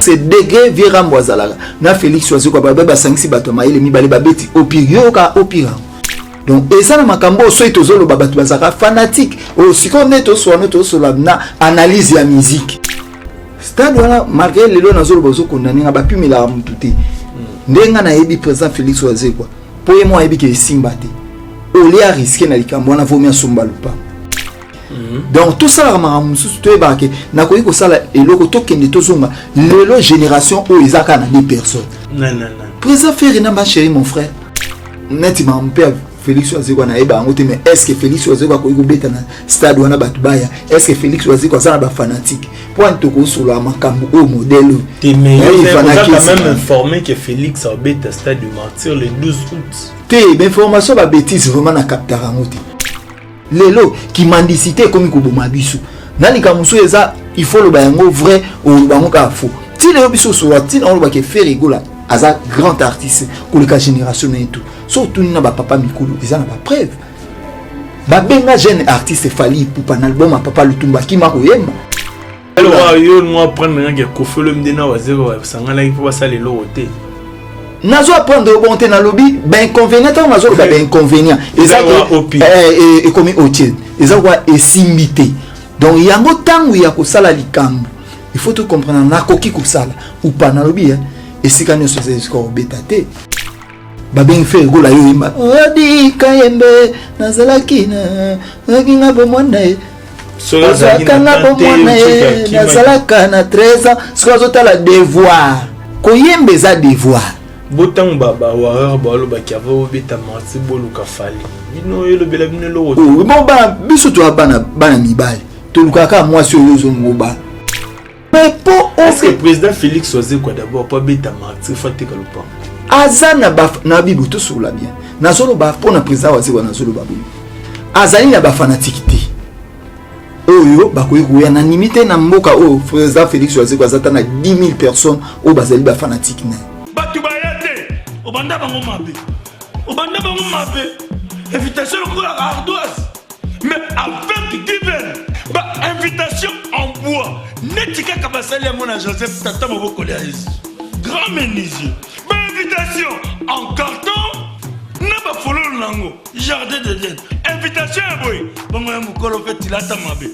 se dege vieux rambo azalaka na felix wazekwa babe basangisi bato ya mayele mibale babeti opire yo yoka opire yango donc eza na makambo oyo soki tozoloba bato bazalaka fanatike oyo oh, sikoyo nde toswana tosolola na analyse ya miziki stade wana malgré lelo nazoloba ozokondane nga bapimelaka motu te nde nga nayebi président félix wazekwa mpo ye moko ayebi ke esimba te olie ariske na likambo wana vomi asomba lopango Mhm. donc tosalaka makambo mosusu toyebaka ke nakoki kosala eloko tokende tozonga lelo génération oyo eza kaka na de personne président ferre na bachéri mon frère neti makambo mpe félix wazeko anayeba yango te mais est ce que félix wazeko akoki kobeta na stade wana bato baya est ce que félix wazeko aza na bafanatique mpo ani tokosolola makambo oyo modele oyo te mais oza quand même informé que félix abeta stade du martyr le 12 août te mais formation babétise vraiment na captaka yango te lelo kimandisite ekomi koboma biso na likambo mosusu eza il faut oloba yango vrai oloba yango kaka faux ti lelo biso osolola ntina olobaka efere egola aza grand artiste koleka génération na ye tout so otuni na bapapa mikolo eza na bapreuve babenga jeune artiste fali ipupa na album ya papa lutumba akima koyemba yo no apprendre nanga ya kofelo mde na wazeko basanganaki mpo basala eloko te nazo apprendre yo bongo te nalobi bainconvénient ntango nazoloba bainconvénient eza ekomi otile eza koa esimbi te donc yango ntango ya kosala likambo il faut tocomprendre nakoki kosala upa nalobi esika nyonso eza esika kobeta te babengi fere gola yo yemba odi kayembe nazalaki na nazalaki nga bomwana ye ozalaka nga bomwana ye nazalaka na 13 ans soki azotala devoir koyemba eza devoir bo ntango bawareur balobaki ava obeta marti boluka fali bino elobela bino eloko oh, biso toya bana mibali tolukaka kaka mwasi oyo ozongo bana popo oyo president felix wazekwa d'abord po abeta martir fo ateka lopango aza na ba na bibo tosolola bien nazoloba mpo na president wazekwa nazoloba boye azali na bafanatiki te oyo bakoki koya na nimi te na mboka oyo president felix wazekwa aza ta na 10 000 personnes oyo bazali bafanatiki na ye bato baya te obanda bango mabe obanda bango mabe invitation lokola ardoise mais avec divin ba invitation en bois neti kaka basali yango na joseph tata mobokoli ya yesu grand menuisier ba invitation en carton na bafololo na yango jardin de den invitation ya boye bongo ya mokolo mpe tilata mabe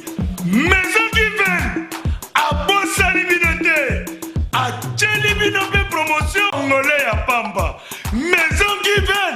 maison divin abosani bino te atyeli bino mpe promotion ngole ya pamba maison divin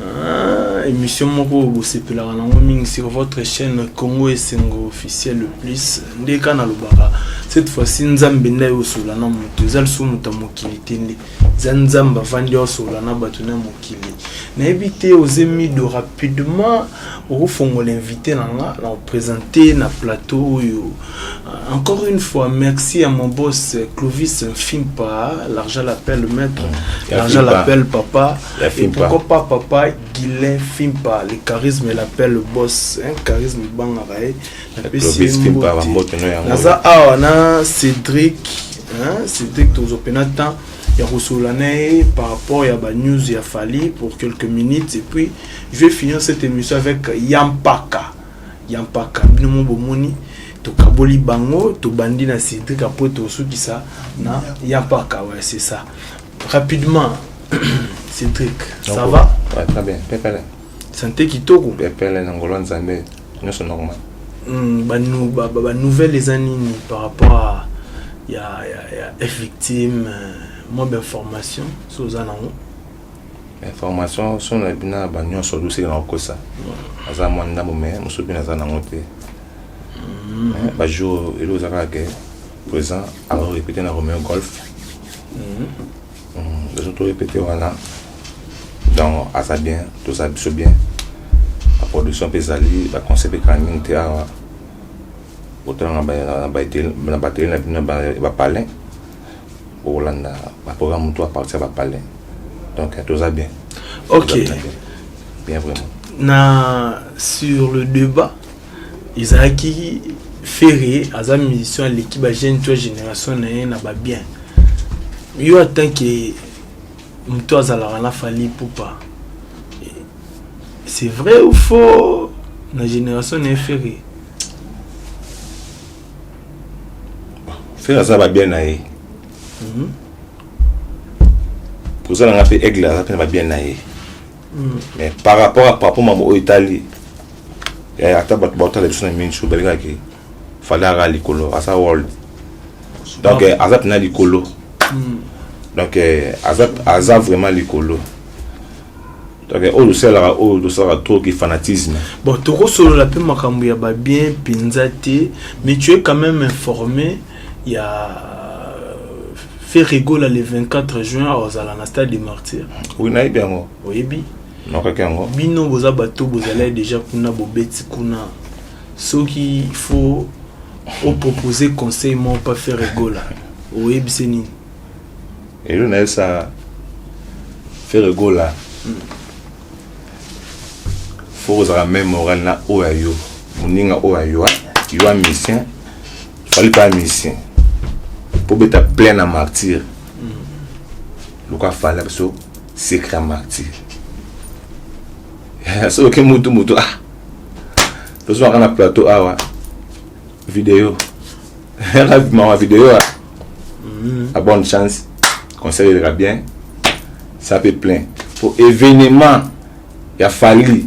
Ah, émission moko bosepelaka nango mingi sur votre chaîne Congo Esengo officiel le plus nde ka nalobaka cette fois-ci nzambe nde aye osola na moto eza lisusu moto ya mokili te nde eza nzambe avandi osola na bato na mokili nayebi te oze mido rapidement okofongola invité na nga na opresente na plateau oyo euh, encore une fois merci à mon boss clovis mfimpa l'argent l'appelle maître l'argent l'appelle papa La Et pourquoi pas papa Guilain Fimpa, le charisme l'appelle le boss, hein, charisme bangaka ye. Napesi ye mbote. Naza awa na Cédric, hein, Cédric tozopena temps ya kosolola na ye par rapport ya ba news ya Fally pour quelques minutes et puis je vais finir cette émission avec Yampaka. Yampaka bino mo bomoni tokaboli bango tobandi na Cédric après tosukisa na Yampaka ouais c'est ça. Rapidement, Cédric, ça va ouais, Très bien, pepele. Santé kitoko Pepele na ngolo nzambe, nyonso normal. Hmm, ba, nou, ba, ba, ba nouvelle eza nini par rapport à ya, ya, ya F victime euh, mwa bainformation so oza nango information so na bina ba nyonso dosili na kokosa aza mwa ndambo me mosusu bino aza nango te hmm. bajour elo eza kaka ke présent alors répété na Romeo Golf les autres répété wana donc aza bien toza biso bien la production mpe ezali baconseil mpe kala mingi te awa otala na ba- na batele na batele na bino ba- bapalin bokolanda baprogramme to apartir ya bapalin donc eh, toza bien ok Toza bien bien vraiment na sur le débat ezalaki ferre aza musicien aleki ba jeune toi génération na ye na ba bien yo atant que moto azalaka na fali pupa c'est vrai ou faux na génération na ye ferre ferre aza ba bien na ye mhm. oza na nga mpe aigle aza mpe na ba bien na ye mm. mais par rapport à papa mama oyo etali eh, ata bato baotala biso na mingi balingaki fale aka likolo aza world donc eh, aza mpena likolo mm. donc eh, aza, aza vraiment likolo donc oyo tosalaka oyo tosalaka trop ki fanatisme bon tokosolola mpe makambo ya babien mpenza te mais tu es quand même informé ya Ferre Gola le 24 juin akozala na stade de martyr. Oui, nayebi yango. Oyebi? Nakaki yango. Bino boza bato bozalaki deja kuna bobeti kuna. Soki il faut opoposer conseil moko pa Ferre Gola. Oyebi se nini? Elo na esa Ferre Gola. Mm. Faut kozala même moral na oyo ya yo. Moninga oyo ya yo, yo musicien fali pa musicien mpo beta plein na martyr lokola fali na biso secret ya martyr soki mutu mutu ah tozwaka na plateau awa video yaka bimaka video a mm-hmm. a bonne chance conseil eleka bien ça peut plein mpo événement ya fali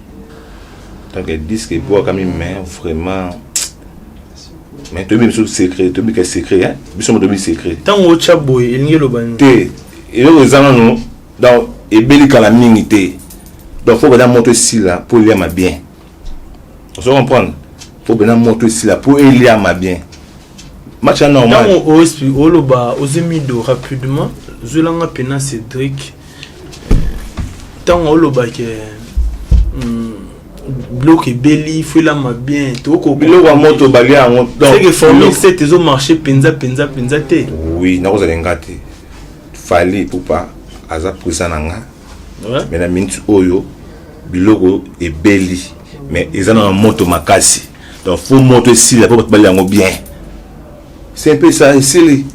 donc disque ebwakami mais vraiment mais toyebi biso secret toyebi ka secret hein biso moto toyebi secret ntango otya boye elingi eloba nini te eloko eza nano donc ebeli kala mingi te donc fo bana moto esila mpo eliama bien ozo comprendre fo bana moto esila mpo eliama bien match ya normal ntango ospi oloba ozi mido rapidement zwelanga mpena cédric ntango olobake hmm, biloko ebeli fuelama bien biloko ya moto balia yango seke formule 7 ezomarche mpenza mpenza mpenza te oui nakozala nga te fali pupa aza presa na nga me na minute oyo biloko ebeli mais eza na moto makasi donc fo moto esila po bato balia yango bien c'est un peu ça esili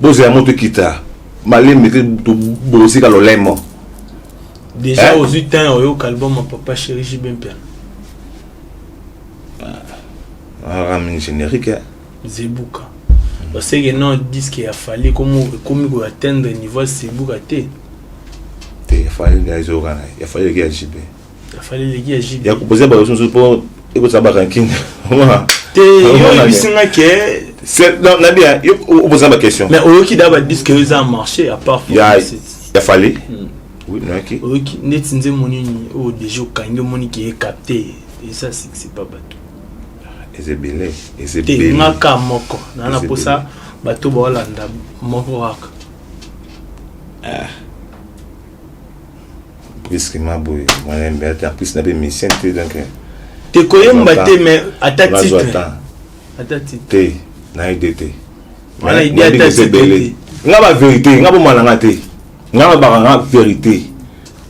bozela moto ekita malembe te tobosika lolemo déjà eh? ozwi temps oyoka album ya papa chéri jb mpiana aramini ah, générique eh? zebuka oseke non disque ya fali ekomi koatteindre niveau ya zebuka te te ya fali ezoyoka na ya fali eleki ya jb ya kopoze bato mosusu mpo ekozala baranking te yo oyebisi nga ke nabia yo oboza ba question mais oyoki da badise ke eza marché à part ya fali hmm. oyoki neti nze moni nini oyo oh, deja okangi omoni ke ecapte eza sikisi ba bato eza ebele eza ebele nga ka moko naa na mposa bato baolanda moko kaka ah. brusquement boye moyen mbe ata en plus na be musicien te donc te koyemba te mais ata titre ata titre te na ide te wana ide ata titre nga ba vérité nga bomba na nga te nga na baka nga vérité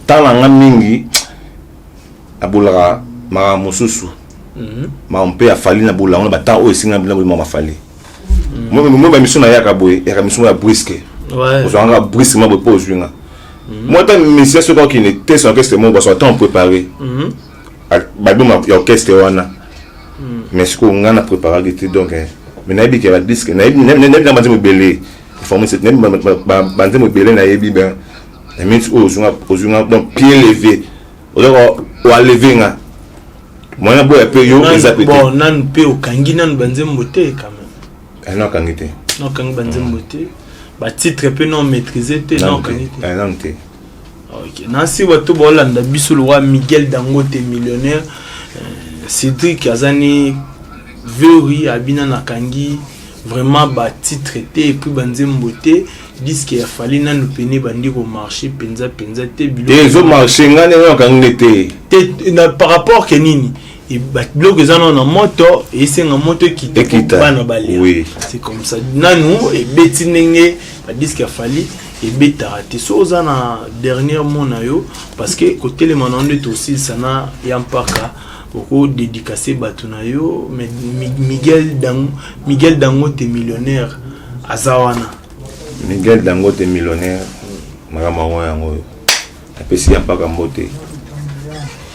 ntango na nga mingi abolaka makambo mosusu mhm. makambo mpe afali na bolango na batango oyo esinga bilango limama afali mo ba mission na yaka boye yaka mission ya brisque ozwa nga brisque ma boye po ozwi nga mhm. moi ta mission soki okende te son orchestre mo baso temps préparé mhm. album ya orchestre wana mhm. mais sikoyo nga na préparaki te donc eh, mais nayebi ke badisque nayebi na banzembo ebele forme cette nayebi banzembo ebele nayebi ben na minute oyo ozwi nga donc pied levé oza oaleve nga mwana boya pe yo eza pe bon nanu pe okangi nanu banzembo te quand même ah, non okangi te non okangi banzembo te ba titre pe non maîtriser te non okangi te ah, non te ok nasi bato baolanda biso lokola miguel dangote millionnaire euh, cédric aza ne veuri abina nakangi vraiment batitre te epuis banzembo te disque ya fali nanu pene ebandi komarche mpenza mpenza te te ezo marche ngai ndenge nakangi nde te te na par rapport ke nini e, biloko eza nano na moto esenga moto ekita bana balia oui. c'est comme ça nanu ebeti ndenge badiske ya fali ebetaka te so oza na dernier mot na yo parce que kotelema na yo nde tosilisa na ya mpaka oko dedicace bato na yo mais miguel dango miguel dangote millionnaire aza wana miguel dangote millionnaire makambo yango yango oyo napesi ya mpaka mbote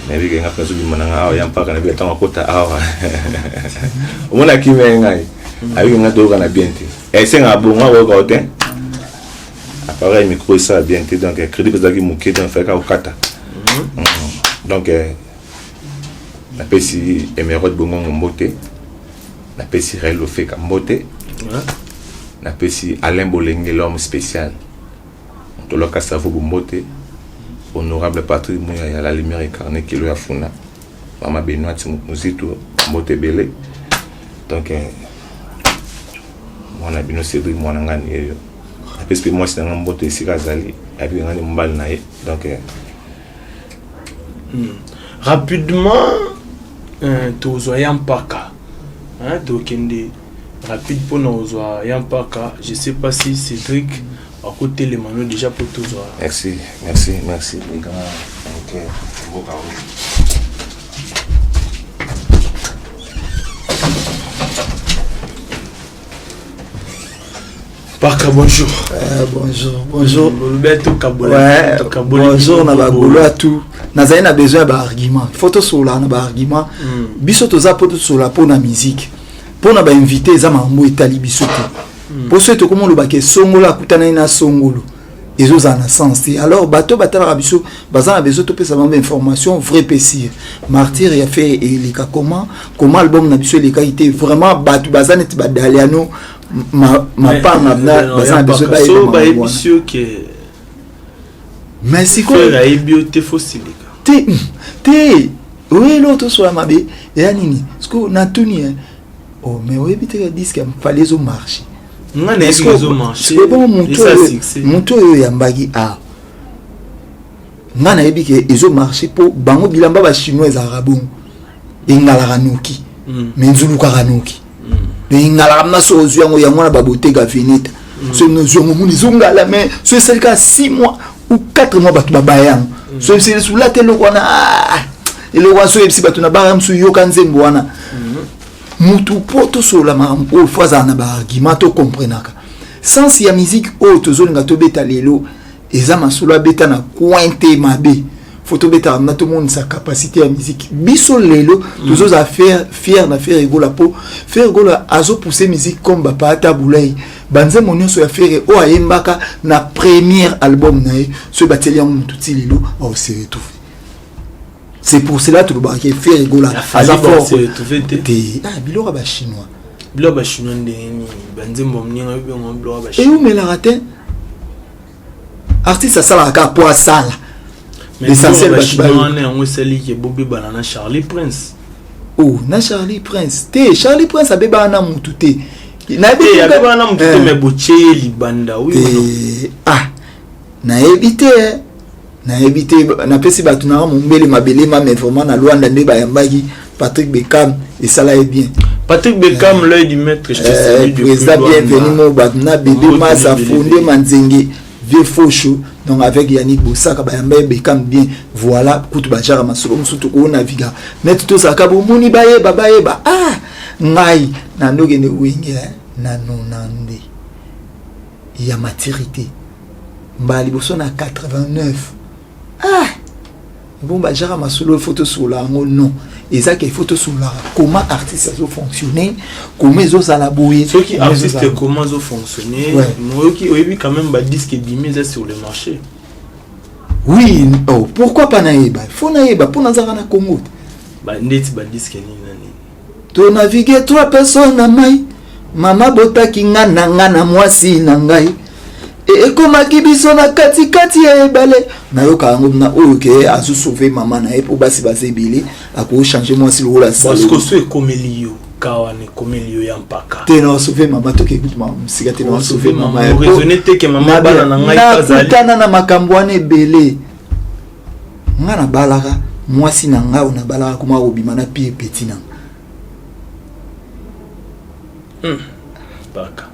nayebi kenga mpe azobima na ngai awa ya mpaka nayebi ntango akota awa omona kimia ye ngai ayebi kenga toyokana bien te esengaka eh, bongo akoyoka yo te appareil micro esala bien te donc eh, crédit ezalaki moke donc fayaka kokata mhm. mm. donc eh, napesi emerode bongongo mbote napesi rael ofeka mbote napesi alain bolenge l'homme spécial motolaka savo bombote honorable patrick muya ya la lumière incarne kilo ya funa mama benoite muzitu mbote ebele donc eh, mwana bino cédrik mwana ngai niyeyo napesi mpe mwasi na ngai mbote esika azali ayebi ngai ni mobali na ye donc eh, Hmm. Rapidement, euh, tozwa ya mpaka hein, tokende rapide mpo na kozwa ya mpaka je sais pas si cédric akotelema no déjà mpo tozwa merci merci merci les grands okay. Parka, bonjour. Euh, bonjour, bonjour. Ouais, bonjour, na ba golois tout. Nazali na besoin ba argument. Faut to sola na ba argument. Hmm. Biso toza po to sola po na musique. Po na ba invité eza mambo etali biso te. Hmm. Po so to komo lo ba ke songola kutana na songolo. ezozala na sens te alors bato batalaka biso baza na besoin topesa bango information vrai mpe sire martyre ya fere eleka comment comment album na biso elekaki te vraiment bato baza neti badaliano mapanga baza na besoin bayebisi yo ke mais sikoyo ayebi yo te fosilika te te oyo eloo tosola mabe eya nini sikoyo natuni oh mais oyebi te ka disque ya fali ezo marche nga na ezo ezo marche ebongo moto moto oyo oyambaki awa nga nayebi ke ezo marche mpo bango bilamba ba chinois ezalaka bongo engalaka noki hmm. me nzulukaka noki hmm. me engalaka mna so ozwi yango yango wana baboteka veneta hmm. so nozwi yango moni ezongala me so esali kaka six mois ou 4 mois bato babaya yango mm. so yebisi lisula te eloko wana ah, eloko wana so yebisi bato na banga mosusu yoka nzembo wana mm-hmm. motu mpo tosolola makambo oyo fo azala na baargument tokomprenaka sense ya miziki oyo tozolinga tobeta lelo eza masolo abeta na coin te mabe fo tobetaka na tomonisa capacité ya miziki biso lelo mm. tozozala fier na fier egola mpo fier egola azopousse miziki comme bapaata bulai banzembo nyonso ya fere oyo ayembaka na première album na ye soki batieli yango motu ti lelo aose retrouve c'est pour cela tolobaka ke fere gola aza fort te ah, biloko ya bachinois biloko ya bachinois ndenge nini banzembo mninga yo biloko ya bachinois eumelaka te artiste asalaka kaka mpo asala l'essentiel bato bawana yango esali ke bobebana na charlie prince o oh, na charlie prince te charlie prince abebana na motu te abebana na motu te eh. me botie ye libanda wi ah nayebi te eh. nayebi te napesi bato nanga mombele mabele ma mais vraiment na luanda nde bayambaki patrick beckham esala ye bien Patrick Beckham, euh, l'œil du maître, je te euh, salue. Président, bienvenue, mon Batna, Bébé Massa, Fondé Manzenge, Vieux Fauchou, donc avec Yannick Bossaka, Bayamba Beckham, bien, voilà, Koutou Bajara, Masolo, Moussoutou, Kouna, Viga. Mais tout ça, Kabou, Mouni, Baye, Babaye, Ba, ah, Ngai, Nando, Gene, Wenge, hein. Nano, Nande, il y a maturité. mbala liboso na 89 ah ebomba jaka masolo ifo tosolola yango non eza ke ifo tosololaka comment artiste azofonctionne comment ezozala boye soki artiste comment azofonctionne moyoki oyebi quand même badisque ebimi eza sur le marché oui oh, pourquoi pas nayeba fo nayeba mpo nazalaka na congo te ndeti badisque nini To navigue trois personnes na mai mama botaki nga na nga na mwasi na ngai e, ekomaki biso na katikati ya ebale nayoka yango na oyo ke azo sauve mama na ye mpo basi baza ebele akoki change mwasi lokola sikoso ekomeli yo kawa na ekomeli yo ya mpaka te na wasauve mama toke kutu mama mosika te na wasauve mama nakutana na makambo wana ebele nga nabalaka mwasi na nga oyo nabalaka kuma akobima na pie peti na nga hmm. baka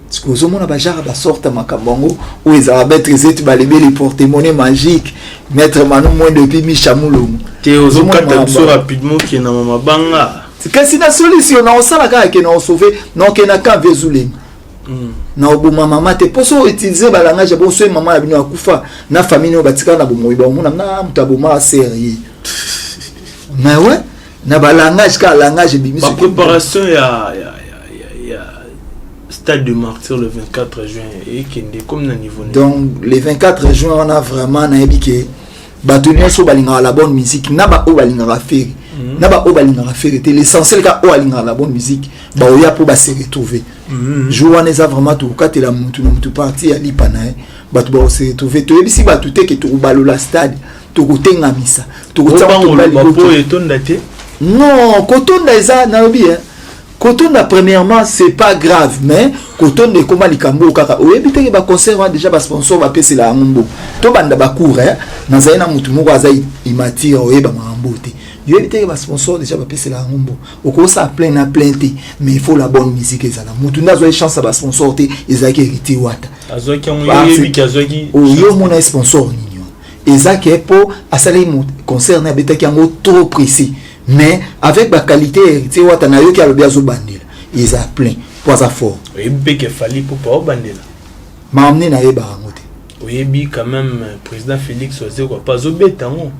sikoyo ozomona bajara basorte makambo yango oyo ezala maître zeti balebeli portemone magique maître mano moins depuis micha mulongo te ozokata biso rapidement okenda ma mabanga kasi na solution na osala kaka ke na osauve na okenda camp vezulenga Mm. na oboma mama te mpo so utilise balangage ya bonso ye mama na bino akufa na famille nayo batikala na bomoi baomona na moto aboma sere ye mais ouais na balangage kaka langage ebimi ba préparation ya, ya, ya, ya, ya stade de martyr le 24 juin ekende comme na niveau donc le 24 juin wana vraiment nayebi ke bato nyonso balingaka la bonne musique na baoyo balingaka fere mhm. na baoyo balingaka fere te l'essentiel ka oyo alingaka la bonne musique baoya mpo base retrouve mhm. jour wana eza vraiment tokokatela motu na motu parti ya lipa na ye bato bakose retrouve toyebisi bato te ke tokobalola stade tokotengamisa tokotiapo etonda te non kotonda eza nalobi e kotonda premièrement c'est pas grave mais kotonda ekoma likambo oyo kaka oyebi teke baconcert wana déjà basponsor bapesela yango mbo tobanda bacour eh? nazali na motu moko aza imatire oyeba makambo te yoyebi teke basponsor déjà bapesela yango mbo okosala plein na plein te mais il faut la bonne musique ezala motu nde azwaki chance ya basponsor te ezalaki héritier wata oyo omona ye sponsor nini wana eza ke mpo asalaki concert na abetaki yango trop précis mais avec ba qualité ya héritier wata nayoki alobi azobandela eza plein po aza fort oyebi mpe ke fali pupa obandela maamne nayebaka yango te oyebi quand même euh, président félix wazekwa mpe azobeta yango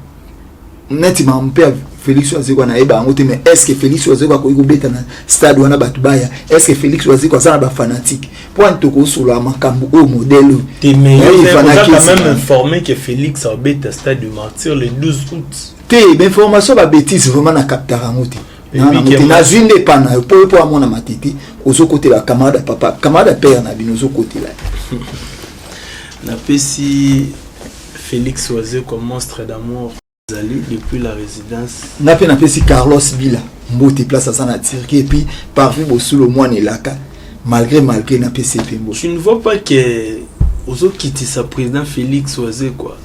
neti mamu mpe félix wazekwa nayeba yango te mais est ce que félix wazekwa akoki kobeta na stade wana bato baya est ce que félix wazekwa aza na bafanatique mpo ani tokosolola makambo oyo modele oyo te mais yo ozalaka quand même informé que félix abeta stade du martyr le 12 août te ba information ba betise vraiment na captaka yango te nazwi nde epa na yo mpo mpo amona matete ozokotela camarade ya papa camarade ya père na bino ozokotela napesi félix oise comme monstre d'amour azali depuis la résidence nga mpe napesi carlos bila mbote place aza na turquie epuis parvi bosulo mwana elaka malgré malgré napesi epe mbo tu ne vois pas que ozokitisa président félix oise quoi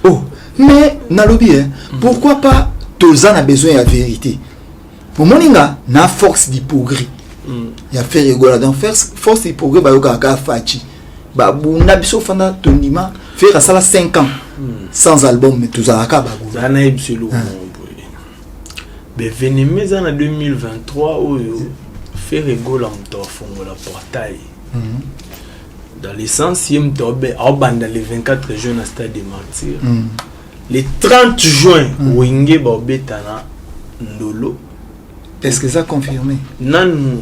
oh mais nalobi eh, pourquoi pas toza na besoin ya vérité omoni nga na force du progrès mm. ya faire egola donc force du progrès bayokaka kaka faci babunda biso fanda tondima faire asala 5 ans mm. sans album mais tozalaka bagula beveneme eza na 2023 oyo faire egola moto afongola portail mm -hmm. dans le sens ye moto aobe aobanda le 24 juin na stade de martyr mm. le 30 juin mm. wenge baobetana ndolo est ce que eza confirmé nanu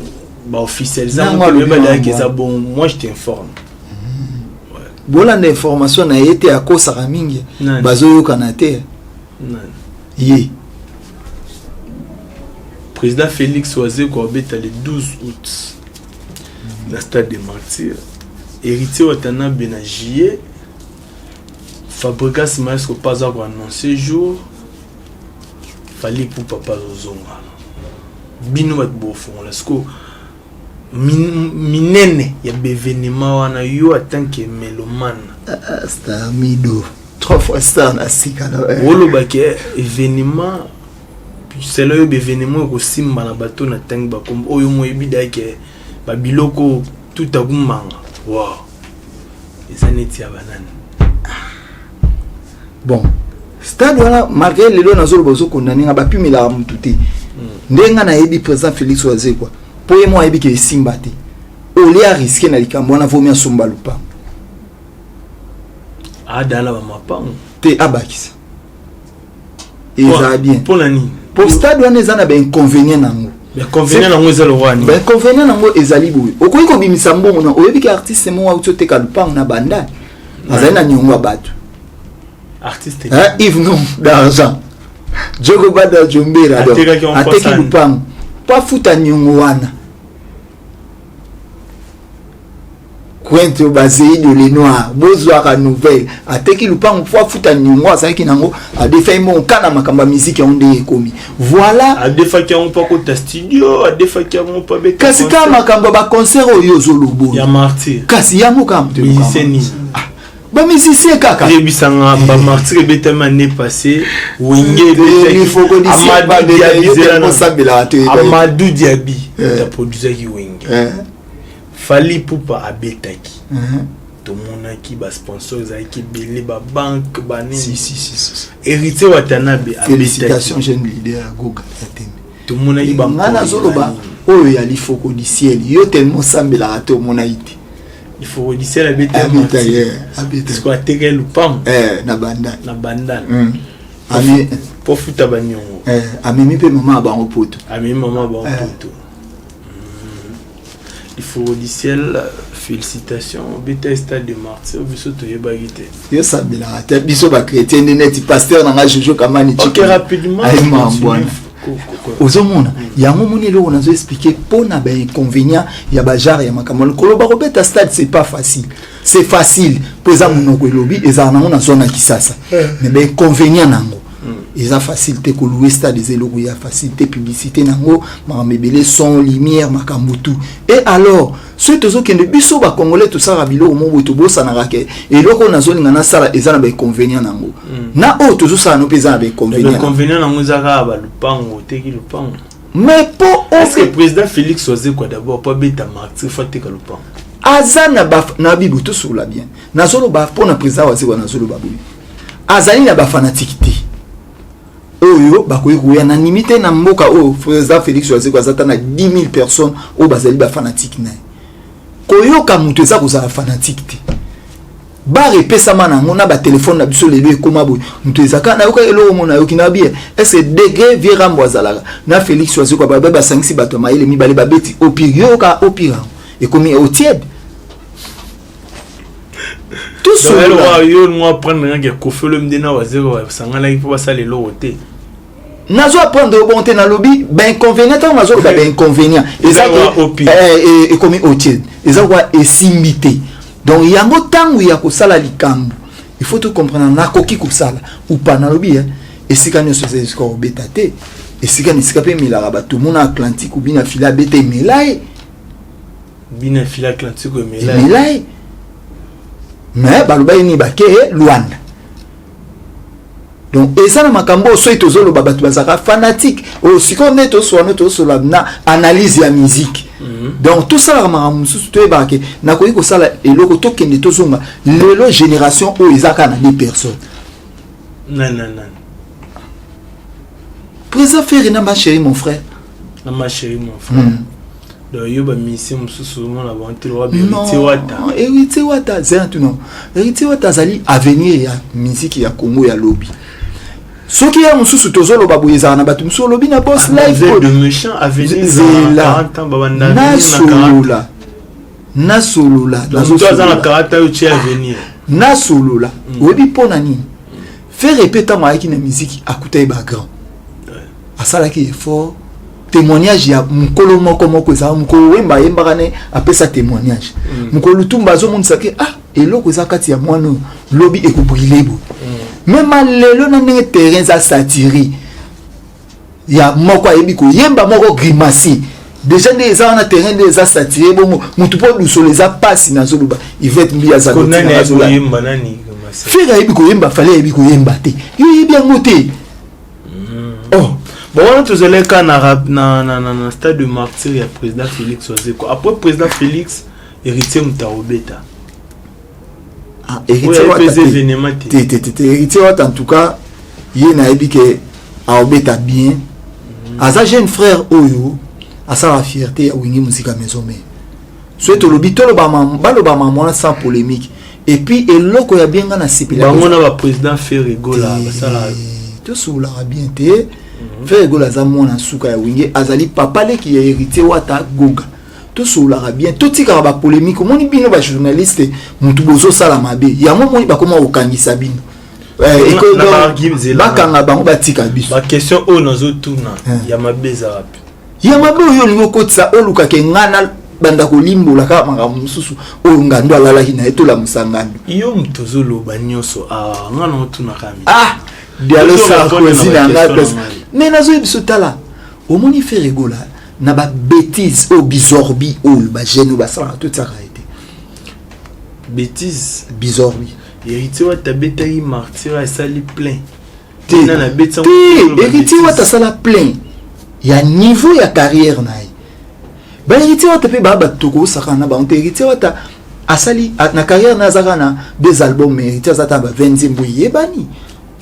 baofficialisa motoyebalaki eza bon moi je t'informe mm. bolanda information na ye te akosaka mingi bazoyokana te ye président félix wazeko abeta le 12 août na stade de martyr héritier watanabe na juillet fabricas maestro mpe aza koannonce jour fali mpo papa azozonga bino bato bofongola sikoyo minene ya bevenema wana yo atanke melomane ah, ah, stamido trois fois star na sika olobaki evenema selon yo bevenemo ekosimba na bato na tangi bakombo oyo moyebi dayeke babiloko tutakumanga wa eza neti ya banani ah. bon stade wana malgré lelo nazoloba ozokondane nga bapimelaka motu te hmm. ndenge nga nayebi président félix wazekwa mpo ye mo ayebi ke esimba te olie ariske na likambo wana vomi asomba lopango adala bamapango te abakisa eza bien mpo na nini mpo stade wana eza na bainconvenient nango bainconvenient nango eza lowani bainconvenient nango ezali boye okoki kobimisa mbongo na oyebi ke artiste moko auti oteka lupango na banda azali na niongo ya bato artiste ive non d'argent jogo bada jombera ateki lupango mpo afuta niongo wana kwente oyo bazei de lenoir bozwaka nouvelle ateki lupango mpo afuta niongo azalaki nango adefaki moko nka na makambo ya miziki yango ndenge ekomi voilà adefaki yango mpo akota studio adefaki yango mpo abeta kasi kaka makambo ya baconcert oyo ozolobo ya martyr kasi yango kaka moto ba musicien kaka yebisa nga ba martyr ebetami année passée wenge amadou diabi eh. aprodusaki wenge eh. fali pupa abetaki eh. tomonaki basponsor ezalaki ebele babanke banini héritier watanabe abetaki tomonaki ba nga nazoloba oyo ya lifoko du ciel yo tellement osambelaka te omonaki te lifoko du ciel abetaabetasko ateka ye lupango eh, na bandal na bandal hmm. po futa baniongo eh, amemi mpe mama ya bango poto amemi mama ya bango eh. poto ifungolisiel félicitation obeta stade de martyr biso toyebaki te yo sabelaka te biso bachrétien nde neti paster na ngai jojo kamani okay, rapidement ozomona mm. yango moni eloko nazo explike mpo na bainconvénient ya bajare ya makambo likolo bakobeta stade c'est pas facile c'est facile mpo eza monoko elobi ezala nango na zona kisasa eh. mais bainconvénient na yango eza facile te koloue stade eza eloko ya facile te publicité na yango makambo ebele son lumière makambo tout e alors soki tozokende biso bacongolais tosalaka biloko moko boye tobosanaka ke eloko nazolinga nasala eza na bainconvénient na yango hmm. na oyo tozosala no mpe eza na bainconvénient nango eza kaka balupango oteki lupango mais po oke président félix wazekwa d'abord po abeta martir fo ateka lupango aza na bibo tosolola bien nazoloba mpo na président wazekwa nazoloba boye azali na bafanatiki te oyo bakoki koya na nimi te na mboka oyo président félix wazeko aza ata na 10 000 personnes oyo bazali bafanatike na ye koyoka moto eza kozala fanatike te bar epesama na yango na batelefone na biso lelo ekóma boye moto ezaka nayoka eloko mona ayoki na biye ese degre vie rambo azalaka na félix wazeko babe basangisi bato ya mayele mibale babeti opire yoyoka opire yango ekomi otiede yo ngo aprendre nanga ke kofelo mde na wazero basanganaki mpo basala eloko te nazo aprendre yo bongo te nalobi bainconvénient ntango nazoloba bainconvénient eza ekomi eh, eh, otie eza koa esimbi te donc yango ntango ya kosala likambo il faut tocomprendre nakoki kosala upa nalobi eh, esika nyonso eza esika kobeta te esika na esika mpe emelaka bato mona atlantique obi na fili abeta emela ye bino ya fila atlantique emelai mais balobaki nini bake eh, luanda donc eza na makambo oyo soki tozoloba bato bazalaka fanatique oyo oh, sikoyo nde toswana tosolola na analyse ya musique mhm. donc tosalaka makambo mosusu toyebaka ke nakoki kosala eloko tokende tozonga lelo génération oyo eza kaka na de personne président ferre na ma chérie mon frère na ma chérie mon frère mm. yo bamusicien mosusu omona bango te lokola baheritier wata heritier wata zela tuna heritier wata azali avenir ya miziki ya congo ya lobi soki ya mosusu tozoloba boye ezala na bato mosusu olobi na bos lifezela nasolola nasolola nasolola mm. oyebi mpo na nini fere mpe ntango ayaki na miziki akutaki bagrand asalaki effort témoignage ya mokolo moko moko ezalaka mokolo wemba ayembaka ne apesa témoignage mm. mokolo lutumba azomonisa ke ah eloko eza kati ya mwana oyo lobi ekobrile boye mm. mema lelo na ndenge terrain eza satire ya moko ayebi koyemba moko grimasi deja nde eza wana terrain nde eza satire bongo motu mpo lusolo eza mpasi nazoloba ivete mbi azaloyemba nani fere ayebi koyemba fale ayebi koyemba te yo oyebi yango te Oh, bon wana tozalaki kaka na, ra- na, na, na, na stade de martyr ya président félix ozeko après président félix héritier moto akobeta Ah, oyo héritier ayebi wata mpeza te. événement te te te te te héritier wata en tout cas ye nayebi ke aobeta bien aza jeune frère oyo asala fierté ya wingi mosika maison mare soki tolobi tolobama balobama mwana sans polémique epuis eloko ya bien nga na sepela bango na baprésident ferre gola basala tosukolaka bien te mhm. ferre gola aza mwana nsuka ya wenge azali papa leki ya héritier wata goga tosololaka bien totikaka bapolémike omoni bino bajournaliste motu bozosala mabe yango omoni bakoma kokangisa bino eh, bakanga bango batika biso baquestion oyo nazotuna eh. ya mabe eza wapi ya mabe oyo olingi okotisa olukaka enga na banda kolimbola kaka makambo mosusu oyo ngando alalaki na ye tolamusa ngando yo moto ozoloba nyonso awa nga na otunaka mi ah dialo sarkozy na nga pesa mais nazoyi biso tala omoni fere egola na babétise oyo bizorbi oyo bagene oyo basalaka totiaka ye te bétise bizorbi héritier wata abetaki martira esali plein te heritier wata asala plein ya niveau ya carrière na ye ba héritier wata mpe baa bato tokosakana na bango te héritier wata asali na carrière na azaka na deux albums mais héritier aza ta ba 20 nzembo eyebani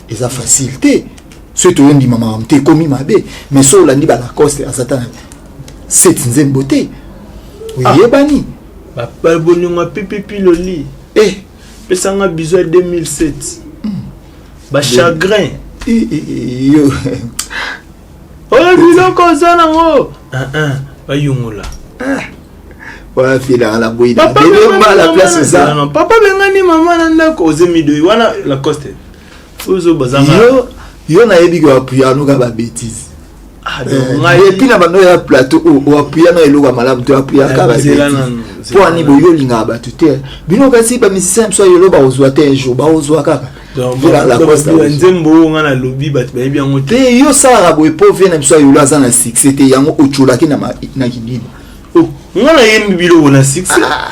eza facile te soki toyondima makambo te ekomi mabe mais so olandi balacoste aza ta na set nzembo te ah. oyebani bolingo ya pipipi loli eh. pesanga bizo ya 2007 ba chagrin yo oyo biloko oza nango bayungola wana filaka na boyi la place eza papa bengani mama na ndako oze midoi wana lacoste ozo bazanga yo yo nayebi ko apuyanoka ba bêtise Ah, eh, epuis na bando ya plateau oh, oh, oapuya na eloko ya malamu te oapuya kaka mpo ani boyi olingaka bato te bino kasi bamisicien biso yelo bakozwa te un jour bakozwa kaka nzembo oyo ngai nalobi bato bayebi yango te eh, yo osalaka boye mpo vie na biso ya yolo aza na succès te yango ocolaki na kidini oh, ngai nayembi biloko na succès ah.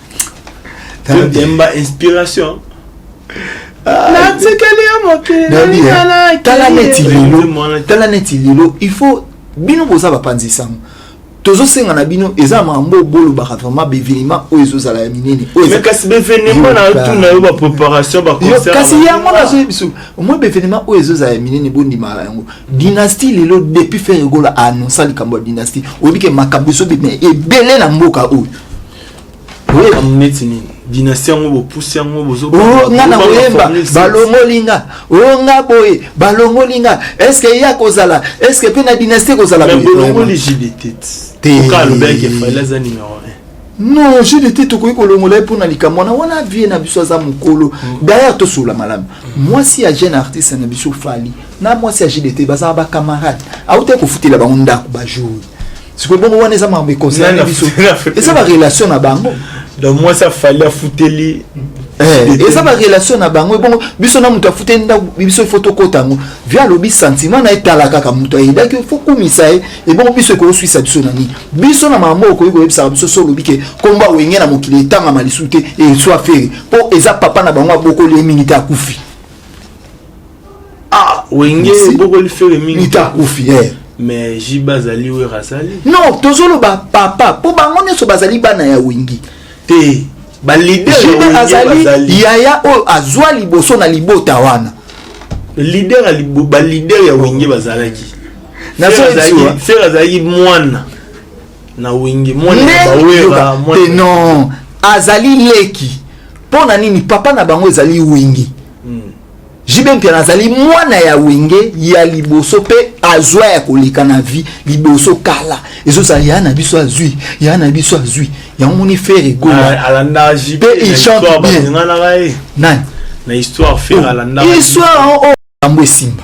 Demba inspiration. Ah, natikeli yo mokeletala neti lelo tala neti lelo il faut bino boza bapanzi sango tozosenga na bino eza makambo oyo bolobaka vraiment bevenema oyo ezozala ya minene kasi bevenema na tuna yo bapreparation bakasi yango nazoye biso omoi bevenema oyo ezozala ya minene bondimaka yango dynastie lelo depuis ferre gola aannonsa likambo ya dynastie oyebi ke makambo ezobima ebele na mboka oyo koyeba neti nini dinasti yango bopusi yango oh, nga na koyemba balongoli nga o oh, nga boye balongoli nga estce ye akozala estce mpe na dinasti ekozala bolongoli jdt oka alobaki efaile aza numero non jede te tokoki kolongola ye mpona likambo wana wana vie na biso aza mokolo mm. dayere tosolola malamu mm. mwasi ya jeune artiste na biso fali na mwasi ya jede te bazala bacamarade autaki kofutela bango ndako bajour sikoyo bongo wana eza makambo econcerne biso eza barelation na bango donc mwasi afali afuteli eh, eza barelation na bango ebongo biso na moto afuteli ndako biso ifo tokota yango via alobi sentiment na etala kaka moto ayedaki ifo kumisa ye ebongo biso ekoswisa biso na nini biso na mama okoki koyebisaka biso so olobi ke nkombo awenge na mokili etangama lisusu te eswa fere mpo eza papa na bango abokoli ye mingi te akufi ah wenge bokoli fere mingi nitakufi eh. mais jiba azali wer azali non tozoloba papa mpo bango nyonso bazali bana ya wengi te balider azali yaya oyo azwa liboso na libota wana lider balider ya wenge bazalaki fer azalaki mwana na wenge mwana ya bawera non azali leki mpo na nini papa na bango ezali wengi JB Mpiana azali mwana ya wenge ya liboso mpe azwa ya koleka na vie liboso kala ezozala ya na biso azwi ya na biso azwi yango moni fere goalandampe il chante bien nani na histoire fere oh, alandaka histoire oyo oh, oh, yango esimba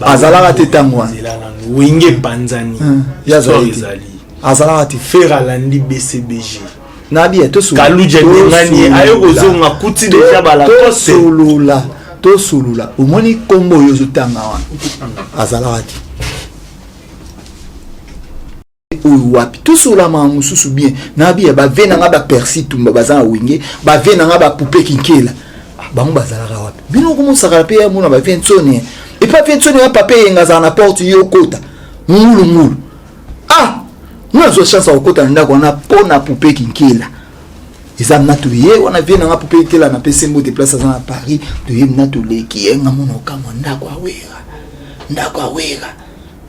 azalaka te ntango wana nzela nanu wenge epanzani Hmm, ye azali histoire te. ezali azalaka te fer alandi bcbg nabi ye tosolola. kaluja abengani ye aye Tosolola. kozonga kuti To- deja balakoste tosolola tosolola omoni nkombo oyo ozotanga wana azalaka te oyo wapi tosola mawa mosusu bien nabi ya bave na nga bapersi tumba baza na wenge bave na nga bapupe kinkela ah, bango bazalaka wapi bino okomosakala mpe yamona bave nsoni epa ve nsoni ya papa eyenga azala na porte yo okota ngulungulu ah nga azwa chance ya kokota na ndako wana mpo na pupe kinkela eza mna toye wana vie nanga pupe kinkela na mpe sembo te place aza na paris toye mna toleki yenga mona okamwa ndako awera ndako awera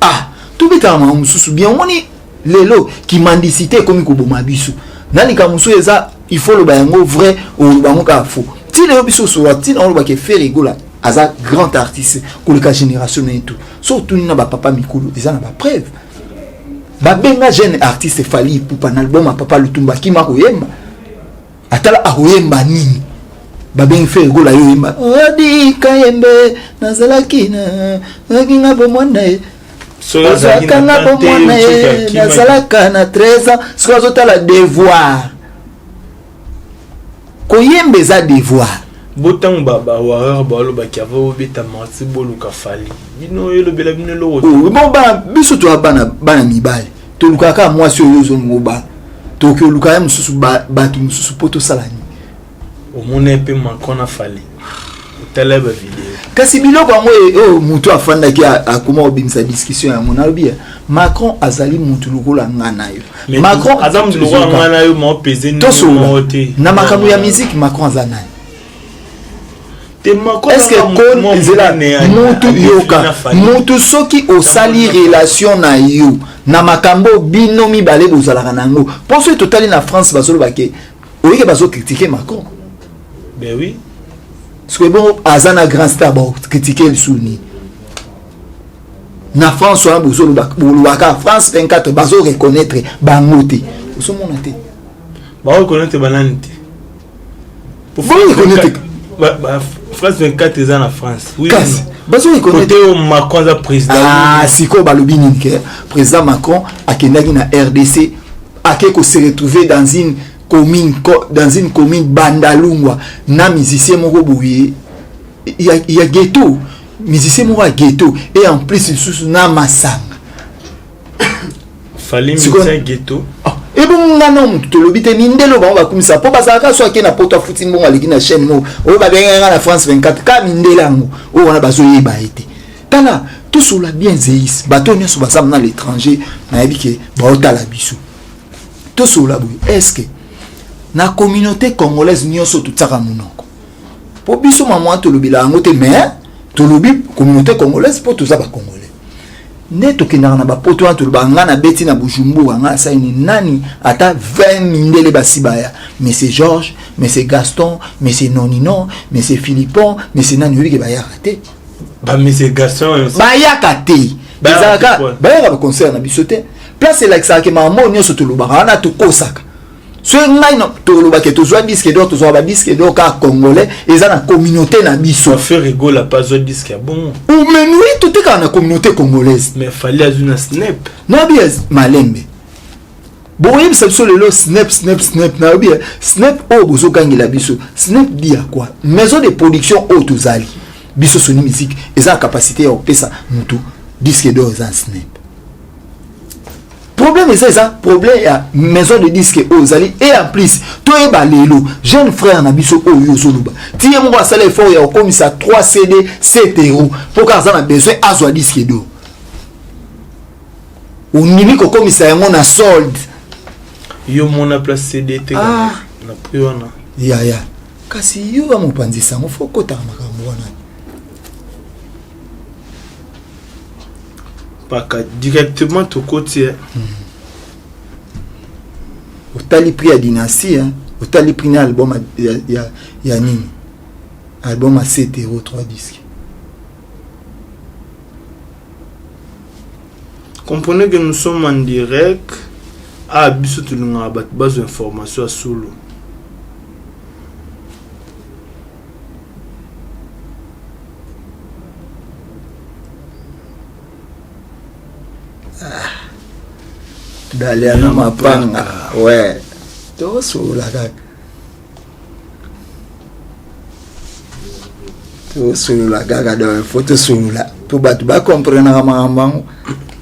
ah tobetaka makambo mosusu bien omoni lelo kimandisite ekomi koboma biso na likambo mosusu eza il faut oloba yango vrai oloba yango kaka faux ntina yo biso osola ntina olobaka efere egola aza grand artiste koleka génération na ye tout so otuni na bapapa mikolo eza na bapreuve babenga jeune artiste fali ipupa na album ya papa lutumba akima koyemba atala akoyemba nini babengi fere gola yo oyemba odi kayembe nazalaki na nazalaki nga bomwana ye ozalaka nga bomwana ye nazalaka na 13 ans soki azotala devoir koyemba eza devoir bo ntango bawarar balobaki ava obeta marti boluka fali bino elobela bino eloko oh, biso toya bana mibali tolukaka kaka mwasi oyo ozongo ba tokoki oluka ye mosusu bato mosusu mpo tosala nini omona mpe macron na fali otala ba video kasi biloko yango e, oyo oh, motu afandaki akoma kobimisa discussion yango nalobi ya macron azali motu lokola nga na yo macron aza motu lokola nga na yo maopeze tosolola na makambo ya miziki macron aza nani eske kon nzela mutu yoka mutu soki osali relation na yo na makambo bino mibale bozalaka na yango mpo soki totali na france bazoloba ke oyike bazokritike macron ben oui soki ebongo aza na grand star bakritike lisusu nini na france wana bozolobaka france 24 bazo reconnaître bango te ozomona te bazo reconnaître banani te France 24 eza na France. Oui. Kasi bazoki kote oyo Macron aza président. Ah, sikoyo balobi nini ke président Macron akendaki na RDC ake ko se retrouver dans une commune dans une commune Bandalungwa na musicien moko boye ya, ya ghetto musicien moko ya ghetto et en plus lisusu na masanga fali musicien ghetto ah, ebongo nga na motu tolobi te mindele bango bakumisa mpo bazalaka so ake na poto afuti mbongo aleki na chaîne moko oyo babengaka nga na france 24 kaka mindele yango oyo wana bazoyeba ye te tala tosola bien zeis bato nyonso baza na l'étranger nayebi ke baotala biso tosola boye estce na communauté congolaise nyonso totiaka monoko mpo biso mamwa tolobela yango te mais tolobi communauté congolaise mpo toza bacongolais nde tokendaka na bapoto wana tolobaka ngai nabeti na bujumbura ngai asaini nani ata 20 mindele basi baya monsieur georges monsieur gaston monsieur nonino monsieur philippon monsieur nani oyebike bayaka te bamese gaston bayaka te ezalaka bayaka baconcert na biso te place elakisaka ke makambo oyo nyonso tolobaka wana tokosaka soki ngai na toloba ke tozwa disque d'or tozwa ba disque d'or kaka congolais eza na communauté na biso affaire egola pa azwa disque ya bongo umenui totekaka na communauté congolaise mais fali azwi na snap nabi ya malembe bokoyebisa biso lelo snap snap snap nayobi ya snap oyo bozogangela biso snap di ya kwa maison de production oyo tozali biso soni musique eza na capacité ya kopesa motu disque d'or eza snap problème eza eza problème ya maison de disque oyo ozali et en plus toyeba lelo jeune frère na biso oyo ozoloba ti ye moko asala effort ya kokomisa 3 cd 7 euro mpo kaka aza na besoin azwa disque do ondimi kokomisa yango na solde yo mona place cd te ah. na prix wana ya ya kasi yo ya mopanzi sango fo okotaka makambo wana paka directement tokoti eh. hmm. otali prix ya dynastie hein? otali prix na album ya, ya, ya nini album ya 7 euro 3 disque comprenez que nous sommes en direct a ah, biso tolingaka bato bazwa information ya solo dalia na mapanga we tosula kaka tosolola kaka donc fo tosolola mpo bato bakomprenaka makambo yango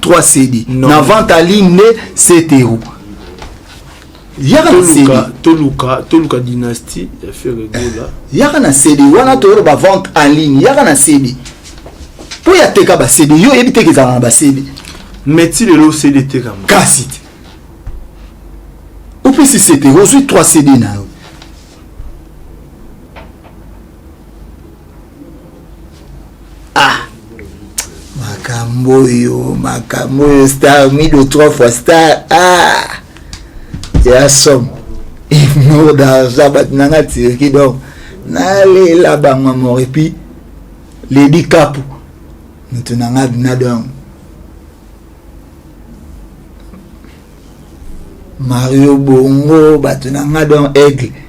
3 cd na vente à ligne nde cto yaka na cd toluka toluka dynastie ya ferregola eh, yaka na cd wana toyolo ba vente en ligne yaka na cd mpo ya teka ba cd yo oyebi teke ezalaka na ba cd mais ti lelo cd etekama kasi te opesi cd ozwi 3 cd na yo makambo oyo makambo oyo star mido trois fois star ah ya somme inour d'argent bato na nga tiriki donc nalela bango amor epuis ledi kapu moto na nga bina donc Mario Bongo bato na nga don aigle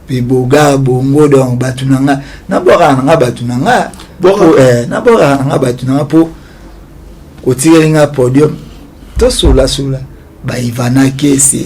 mpe boga bongo don bato na nga nabwakaka na nga bato na nga eh, nabwakaka na nga bato na nga mpo kotikeli nga podium tosolasola baivana kese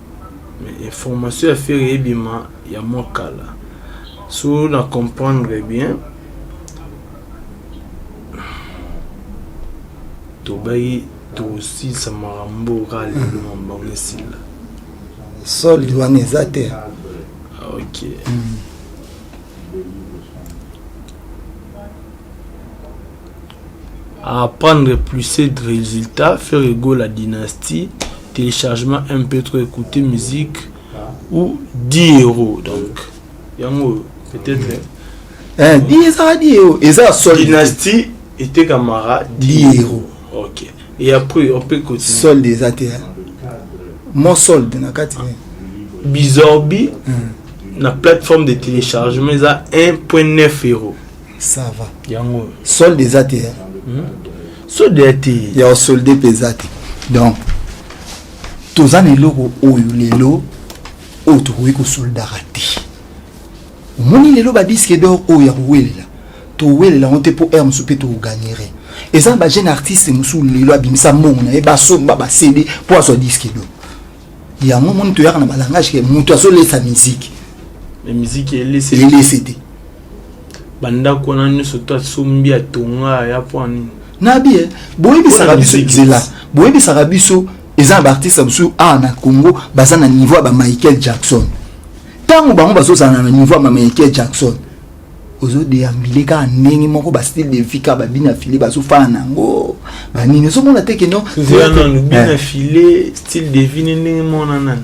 Mais information ya Ferre ebima ya mwa kala. So na comprendre bien, tobaki tosilisa makambo oyo kaka lelo hmm. makambo yango esila. Solde wana eza te. Ah, ok. Mm. A apprendre pluset de resultats, Ferre Gola dynastie, telechargement MP trop ecouter musique ou 10 euros donc yango oyo peut être okay. Eh, di ezala di euro eza ya sol dynastie etekamaka di euro ok et après on peut continuer solde eza te mon solde na kati bizorbi hmm. na plateforme de téléchargement eza 1.9 euro ça va yango solde eza te hmm? solde ya te ya solde mpe eza te donc toza na eloko oyo lelo oyo tokoki kosoldaka te omoni lelo badiske dor oyo ya kowelela towelela yango te mpo r mosusu mpe tokoganire eza na bajeune artiste mosusu lelo abimisa mbongo na ye basomba basede mpo azwa diske do yango omoni toyaka na balangage ke moto azolesa miziki elese te bandako wana nyonso to asombi atonga aya mpo nini nabi eh, boyebisaka biso nzela boyebisaka biso eza na baartiste mosusu awa na congo baza na niveau ya bamichael jackson ntango bango bazozala na niveau ya bamichael jackson ozodeambile kaka ndenge moko bastyle de vie kaka babina file bazofana na yango banini ozomona te keno bina file style de vie ne ndenge mona nani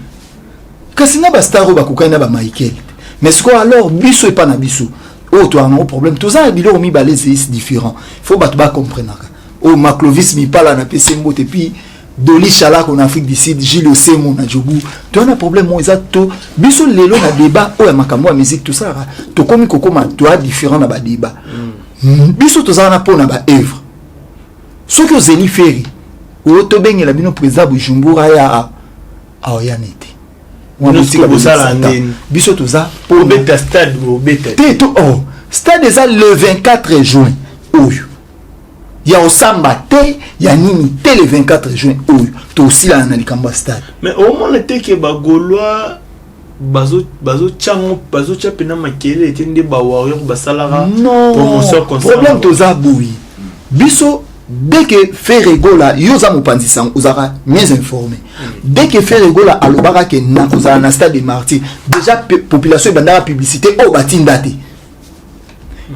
kasi na ba star oyo bakokani na ba Michael mais sikoyo alors biso epa na biso oyo toyaka nango problème toza na biloko mibale ezeis différent faut bato bacomprenaka oyo maclovis mipala na pese mbote puis doli shalako na afrique du sud gile osemo na jobu toya na problème oyo eza to biso lelo na débat oyo ya makambo ya musique tosalaka tokomi kokoma toya différent na badébat mm. biso tozala na mpo na baœuvre soki ozeli feri oyo tobengela bino président bujumbura ya aoyani te biso toza obeta stade obeta te to oh, stade eza le 24 juin oyo ya osamba te ya nini te le 24 juin oyo tosilana na likambo ya stade mais omona te ke bagaulois bazotya bazo mpena makelele te nde bawarrior basalaka promotion problème toza boye biso dès que Ferre Gola yo oza mopanzi sango ozalaka mieux informé dès que Ferre Gola alobaka ke nakozala na stade de martyr déjà population ebandaka publicité oyo oh, batinda te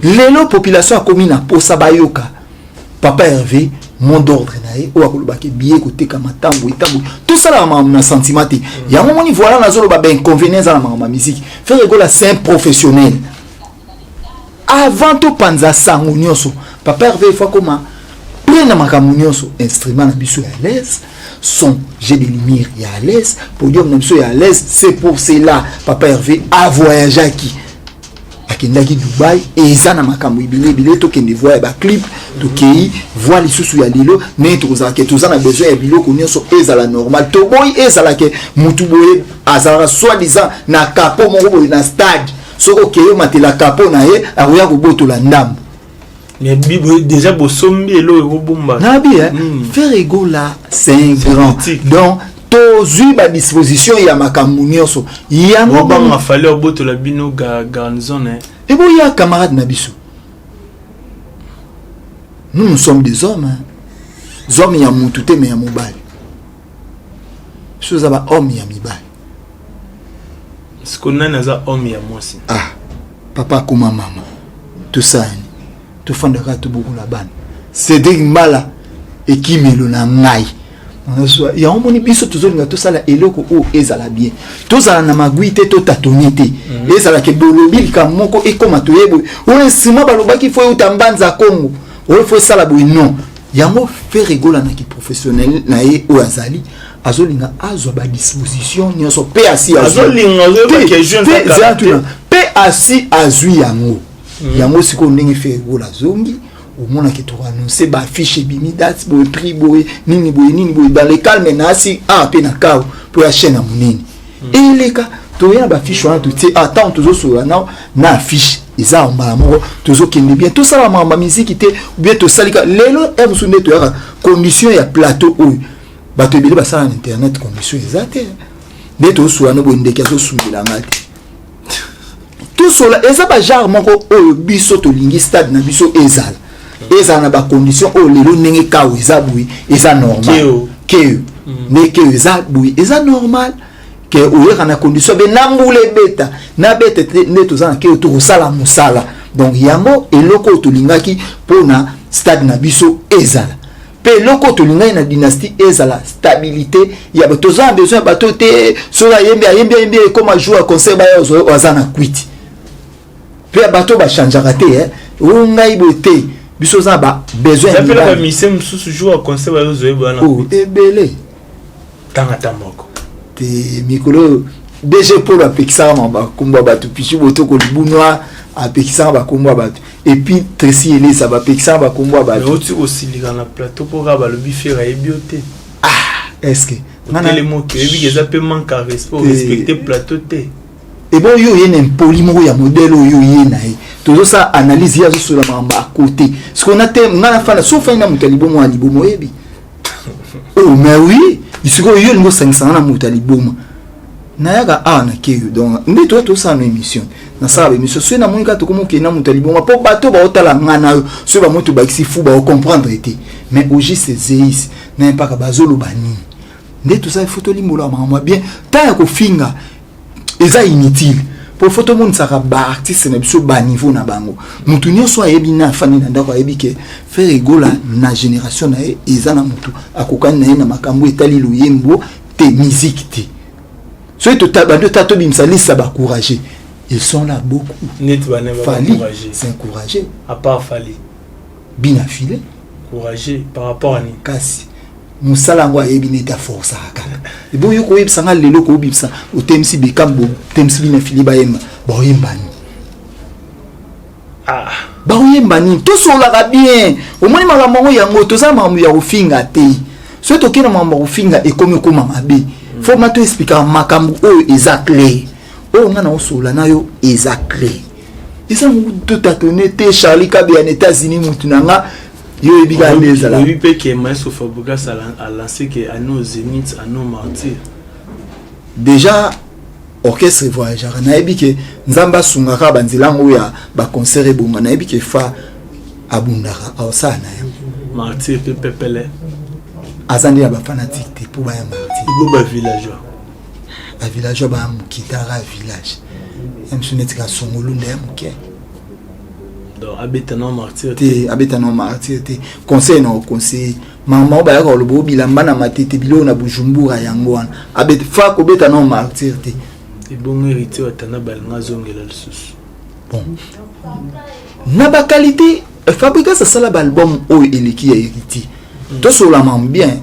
lelo population akomi na posa bayoka papa herve mot d'ordre na ye oyo akolobaki biye koteka matambo etambo tosalaka makambo na sentiment te yango moni voilà nazoloba bainconvénient eza na makambo ya miziki ferre egola c'est un professionnel avant topanza sango nyonso papa herve efo akoma plein na makambo nyonso instrument na biso ya alaise son jeu de lumière ya alaise podium na biso ya alaise c'est pour cela papa herve avoyageaki akendaki dubai eza na makambo ebele ebele tokende voi ya baclip tokei voi lisusu ya lelo ndenge tokozala ke toza na besoin ya biloko nyonso ezala normal toboyi ezala ke motu boye azalaka soi disant na kapo moko boye na stade soki okei omatela kapo na ye akoya kobotola ndambo déjà bosombi elo ekobomba nabi hmm. faire ego là c'est un grand donc tozwi badisposition ya makambo nyonso yangobanga fali obotola bino garnison eh. eboya camarade na biso nous nous sommes des hommes hein. zome ya mutu te me ya mobali biso eza bahomme ya mibali siko nani aza homme ya mwasi ah papa akoma mama tosani tofandaka tobokola bana cedrik mbala ekimelo na ngai yango omoni biso tozolinga tosala eloko oyo ezala bien tozala na magui te totatone te mhm. ezalaka ebolobi likambo moko ekoma toye boye oyo nsima balobaki fo euta mbanza kongo oyo fo esala boye non yango fere egolanaki professionnel na ye oyo azali azolinga azwa badisposition nyonso mpe asi azwituna mpe asi azwi yango hmm. yango sikoyo ndenge fergola azongi omonaki tokoannonce baaffiche ebimi date boye prix boye nini boye nini boye dans le calme na asi a ah, mpe na kao mpo ya chaine ya monene hmm. eleka toye na baaffiche wana totie atant ah, tozosolola nao na affiche eza ya mbala moko tozokende bien tosala makambo ya miziki te bien tosalika lelo ya mosusu nde toyaka condition ya plateau oyo bato ebele basala na internet condition eza te nde tosola no boye ndeke azosungela nga te tosola eza bagenre moko oyo biso tolingi stade na biso ezala ezala na bacondition oyo lelo ndenge kao eza boye eza normal keo mm. nde keo eza boye eza normal ke oyeka na condition be na mbula ebeta na bete te nde toza na keo tokosala mosala donc yango eloko oyo tolingaki mpona stade na biso ezala mpe eloko oyo tolingaki na dynastie ezala stabilité ya bato toza na besoin ya bato te soki ayembi ayembi ayembi ekoma jour ya concert baya oyo aza na kwiti mpe ya bato bachangeaka te eh. o ngai boye te biso oza na babesoin ya mibali ebele tanga ta moko te mikolo oyo dg polo apekisaka ma bakombo ya bato pichu botoko libunwa apekisaka bakombo ya bato epuis tresi elesa bapekisaka bakombo ya bato oti kosilika na plateau mpo kaka balobi fere ayebi yo te ah estce telemoki oyebiki eza mpe manque ya respect orespecte plateau te ebo yo oye na impoli moko ya modele oyo oye na ye tozosala analyse ye azosola makambo akote sikoyo na te ngai nafanda sofani na moto ya libomo ya libomo oyebi oh mais oui sikoyo yo olingi osangisanga na moto ya liboma nayaka awa na keyo donc nde toya tosala na émission nasala baémission soki namoni kaka tokomi okende na moto ya liboma mpo bato baotala ngai na yo soki bamoi tobakisi fu baocomprendre te mais ogiste zeis na mpaka bazoloba nini nde tosala fo tolimbolaka makambo ya bien ntango ya kofinga eza inutile po fo tomonisaka baartiste na biso baniveau na bango motu nyonso ayebi na afandi na ndako ayebi ke frere egola na génération na ye eza na motu akokani na ye na makambo etali loyembo te miziki te soki tobandi ota tobimisa lisa bacourage ils sont là beaucoup fali c'est encouragé à part fali bina file courageux par rapport à ni kasi mosala yango ayebi neti aforsaka kaka ebo yo koyebisa nga lelo koyebisa otemisi bekam botemisi bina fili bayemba baoyemba nini ah. baoyemba nini tosolaka bien omoni makambo yango yango toza makambo ya kofinga te soki tokei na makambo ya kofinga ekomi okoma mabe mm. fo ma to esplikaka makambo oyo eza claire oyo nga na osolola na yo eza claire eza mutu tatone te charlie kabeya na états-unis mutu na nga yo oyebi kaka nde ezala oyebi mpe ke maestro fabrigas alance ke ano zenith ano martyr déjà orchestre voyagaka nayebi ke nzambe asungaka banzela yango ya baconcert ebonga nayebi ke fa abundaka aosala na yango martyr mpe pepele aza nde ya bafanatike te mpo baya martyr bo bavillageois ba villageois baya moke tala village ya mosusu neti kasongolunda ya moke abeta na martyr te abeta na martyr te conseil na oconseille mama oyo bayaka koloba o bilamba na matete biloko na bujumbura yango wana abeta fa kobeta na martyr te ebongo héritier watana balinga azongela lisusu bon na bakalite Eh, fabrigas asala baalbum oyo eleki ya héritier mm. tosolama bien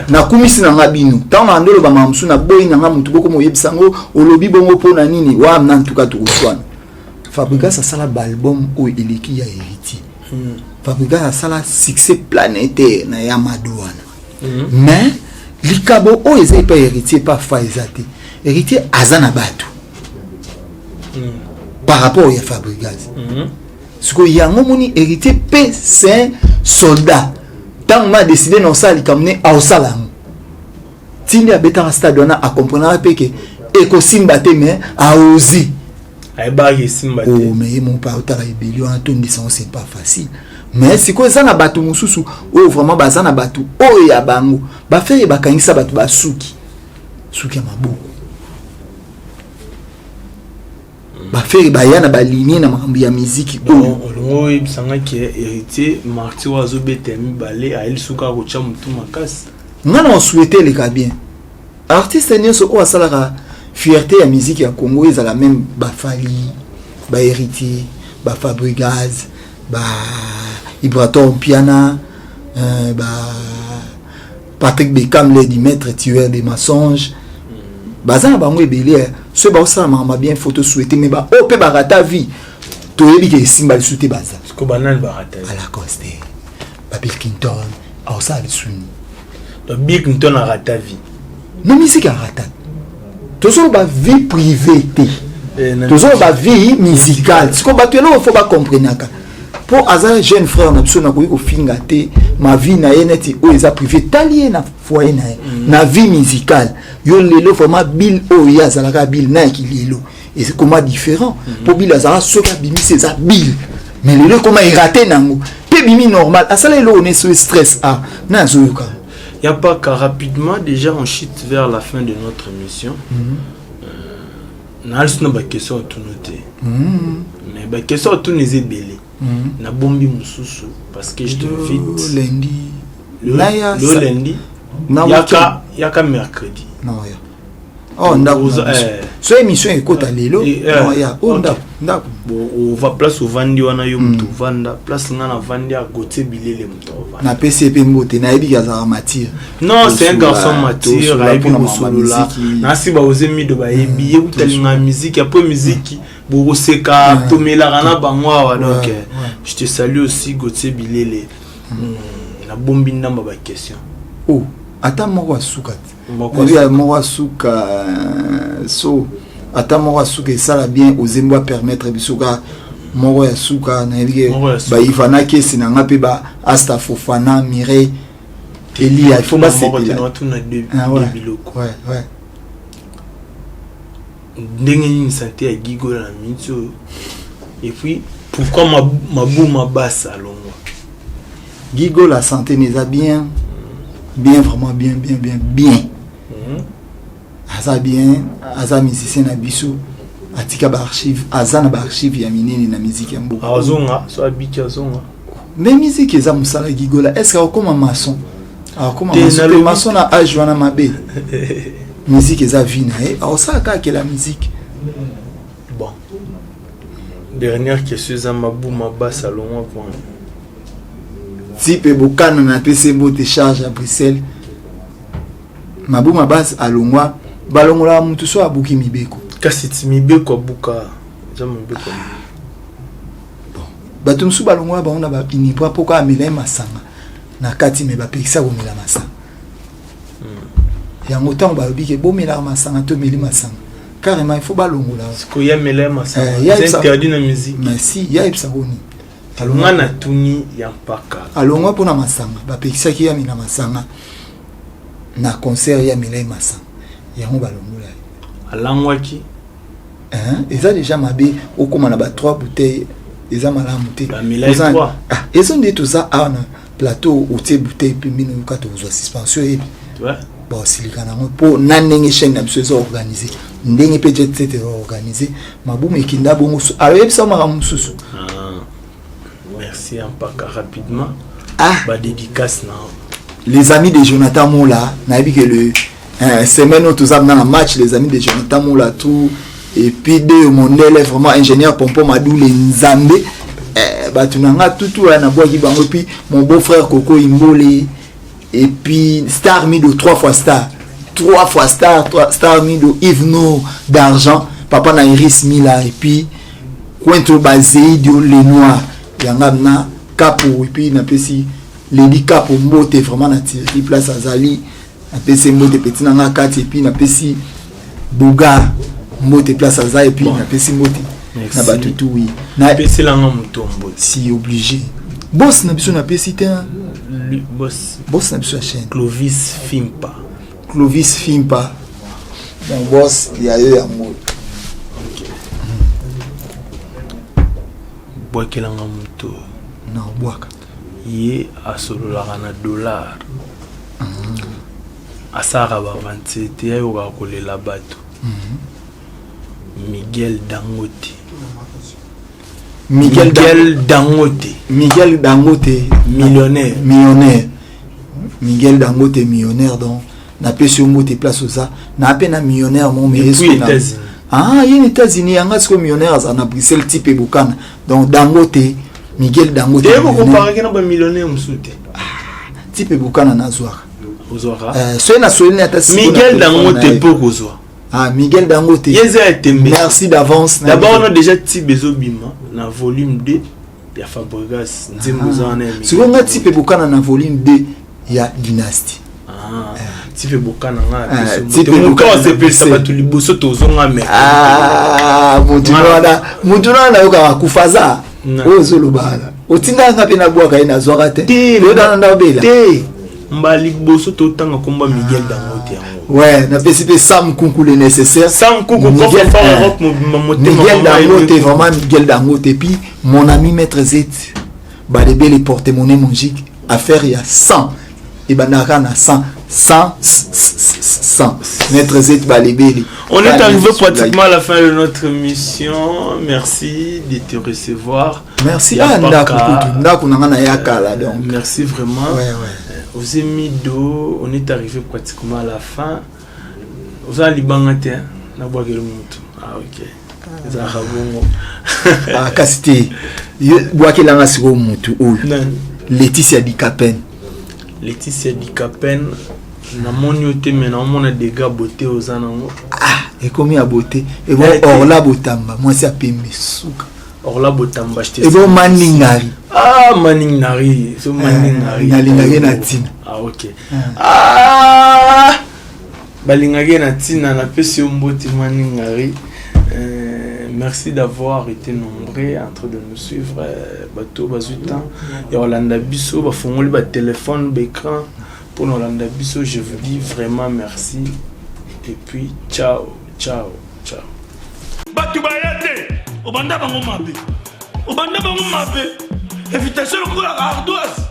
nakumisi na nga bino ntango na ndoloba mama mosusu naboyi na nga motu boko moyebisa yango olobi bongo mpo na nini wana ntuka tokoswana fabrigas asala baalbum oyo eleki ya héritier mm. fabrigas asala succès planétaire na ya mado wana mm. mais likabo oyo eza epai héritier epa fa eza te héritier aza na bato par rapport ya fabrigas sikoyo yango moni héritier pe saint soldat ntango ma décide na osala likambo ne aosala yango tindi abetaka stade wana akomprenaka mpe ke ekosimba te mais aozi ayebaki esimba te oh, mais ye moko mpe aotala ebeli wana tondisa yango c'est pas facile mais sikoyo eza na bato mosusu oyo vraiment baza na bato oyo ya bango bafeye bakangisa bato basuki suki ya maboko bafere baya na balinie na makambo ya miziki oyo olingo oyebisa nga ke héritier marti oyo azobeta ya mibale ayeli suka akotya motu makasi nga na osuete eleka bien artiste nyonso oyo asalaka fierté ya miziki ya congo ezala meme bafali bahéritier bafabrigaz ba ibrator mpiana euh, ba Patrick Beckham les du maître tueur des mensonges baza na bango ebele eh. soki baosala makambo bien faut tosuete mais baoyo oh, mpe barata vie toyebi ke esimba lisu te baza alacoste babill clinton aosala lisuni bill clinton arata vie na misiki arata tozoloba vie privé te eh, tozoloba vie musicale siko bato eloko fo bacomprenaka mpo aza jeune frère na biso nakoki kofinga te ma vie na ye neti oyo eza privé tali ye na foye na ye mm. na vie musicale yo lelo vraiment bill oyo ye azalaka bill na yaki lelo ekoma différent mm. mpo bill azalaka soki abimisi eza bill mais lelo ekoma erate nango mpe bimi normal asala eloko neso stress a ah, na azoyoka Ya paka rapidement déjà on chute vers la fin de notre mission. Mm -hmm. euh, na alisi na ba question tunu te. Mm -hmm. Mais ba question tunu eza ebele. Mm -hmm. Na bombi mususu parce que je te invite lundi. Le, le lundi. Yaka yaka mercredi. Non, yaka. Oh, ndako so émission ekota eh, lelo eh, eh. ya o oh, ndako ndako ova place ovandi wana yo moto ovanda hmm. place ngai navandi ya gotie bilele moto ovanda napesi ye mpe mbote nayebi ke azalaka matire non c'est un garçon matire ayebi kosolola nasi baoze mido bayebi hmm, ye kutalinga miziki apo miziki bokoseka hmm. tomelaka na bango awa donc je te salue aussi gotie bilele nabombi ndamba baquestion o oh, ata moko asuka te Maria moko asuka euh, so ata moko asuka esala bien ozembo a permettre biso ka moko ya suka nayebi ke bayivana kesi na nga mpe ba asta fofana mireille eliya il faut basepela ah, ndenge nini sante ya gigola na miniti oyo epuis pourquoi mabuma basa alongwa Gigo la santé mais eza bien bien vraiment bien bien bien bien mhm. aza bien aza musicien na biso atika baarchive aza na baarchive ya minene na miziki ya mboka azonga so abiki azonga me miziki eza mosala gigola estce akokoma mason akokoma mason na age wana mabe miziki eza vi na ye akosalaka akela miziki Bon. Dernière question eza mabu maba salongo kwa. Tipe bokana na pese bote charge à Bruxelles. Mabu mabas alongwa balongola mutu so abuki mibeko. Kasi ti mibeko abuka. Eza mibeko. Bon. Bato mosusu balongola bango na ba inibra mpo kaka amela ye masanga na kati me bapekisa komela masanga hmm. yango ntango balobi ke bomelaka masanga tomeli masanga carrément il faut balongola sikoyo ya mela ya masanga Eh, ya c'est Epsa- interdit na musique mais si ya yebisa ngo nini alonga na tuni ya mpaka alongwa mpo na masanga bapekisaki yami na masanga na concert ya milai masanga yango balongola ye alangwaki Hein? eza déjà mabe okoma na ba 3 bouteille eza malamu te Ba milai Oza- trois. Ah, ezo nde toza awa na plateau otie bouteille pembeni oyoka tokozwa suspension oyebi baosilika nango mpo na ndenge chaîne na biso eza organise ndenge mpe jet set eza organise mabumu ekinda bongo ayoyebisa makambo mosusu ah, merci ampaka rapidement ah. badédicace na les amis de jonathan mola nayebi ke le Eh, semaine oyo toza na match les amis de jonathan molatu epuis de mondele vraiment ingénieur pompo madule nzambe eh, bato na nga tutu aya nabwaki bango epuis mon beau frère koko imbole epuis star mido trois fois star trois fois star trois, star mido ivno d'argent papa na iris mila epuis quento bazeidio le noir yanga na kapo epuis napesi leli kapo mbote vraiment na tiraki place azali napesi mbote peti na nga kati epuis napesi boga mbote place aza epuis napesi mbote na bato tu wi napeselanga moto mbote si obligé bos na biso napesi te bos na biso ya chaine clovis fimpa clovis fimpa mon bos ya yo yango bwakelanga moto na obwaka ye asololaka na dollar asalaka bavance te ayokaka kolela bato miguel dangote miguel, miguel dangote miguel dangote millionnaire millionnaire miguel dangote millionnaire donc na pesi yo mbote place oza na pe na millionnaire mo mais esko na ah ye na États-Unis yanga siko millionnaire aza na Bruxelles type bokana donc Dangote Miguel Dangote te ko comparer ke na ba millionnaire mususu te type bokana na zwaka ozwaka euh soye na soyeli na ata siko Miguel Dangote po ko zwa Ah, Miguel Dangote. Merci d'avance. D'abord, on a déjà Tibezo Bima, na volume 2. ya Fabregas nzembo ah. eza wana ya sikoyo nga tipe bokana na volume 2 ya dynastie ah, eh. tipe bokana nga eh, asepelisa bato liboso tozonga memutu ah, wana nayokaka akufa aza oyo ozolobana otindaka nga mpe nabwaka ye nazwaka te oyokana nda obela mbala liboso totanga nkombo ya miguel dangote yango we napesi mpe sam kunku le nécessaire sam kunku miguel dangote vraiment miguel dangote epuis mon ami maître zet balebele porte monnaie mongique affaire ya 100 ebandaka na 100 100 100 maître zet balebele on est arrivé pratiquement à la fin de notre mission merci de te recevoir merci ah ndako kutu ndako na ngai na ya kala donc merci vraiment ouais, ouais. Euh, oze mido on est arrivé pratiquement à la fin oza libanga te nabwakeli motu ah ok ah. ezalaka bongo ah, kasi te bwakelanga sikoyo motu oyo leticia dicapen leticia dicapen namoni yo te me naomona dega bote oza nango ah, ekomi ya bote ebo orla botamba mwasi ya pembe suka orla botamba ebo manning nari ah manning nari so manning nari nalingaki na ntina ah ok ah balingaki na ntina napesi yo mbote manning nari Euh, merci d'avoir été nombreux en train de nous suivre euh, bato bazwi temps ya kolanda biso bafongoli batelefone baécran mpo na kolanda biso je vous dis vraiment merci et puis ciao ciao bato baya te obanda bango mabe obanda bango mabe invitation lokola ardoise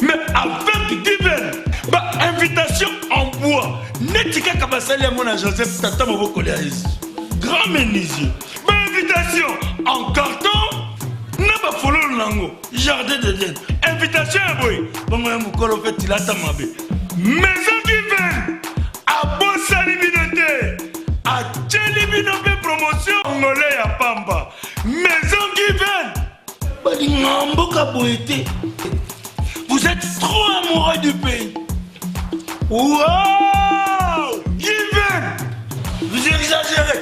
mais avec divin bainvitation en bois neti kaka basali yango na joseph tata moboko lya yesu grand menuisier bainvitation en carton na bafololo na yango jardin de den invitation ya boye bongo ya mokolo mpe tilata mabe maison kiven abosani bino te atyeli bino mpe promotion ngole ya pamba maison kiven balinga mboka boye te vous êtes trop amoureux du pays wow kiven vous exagérez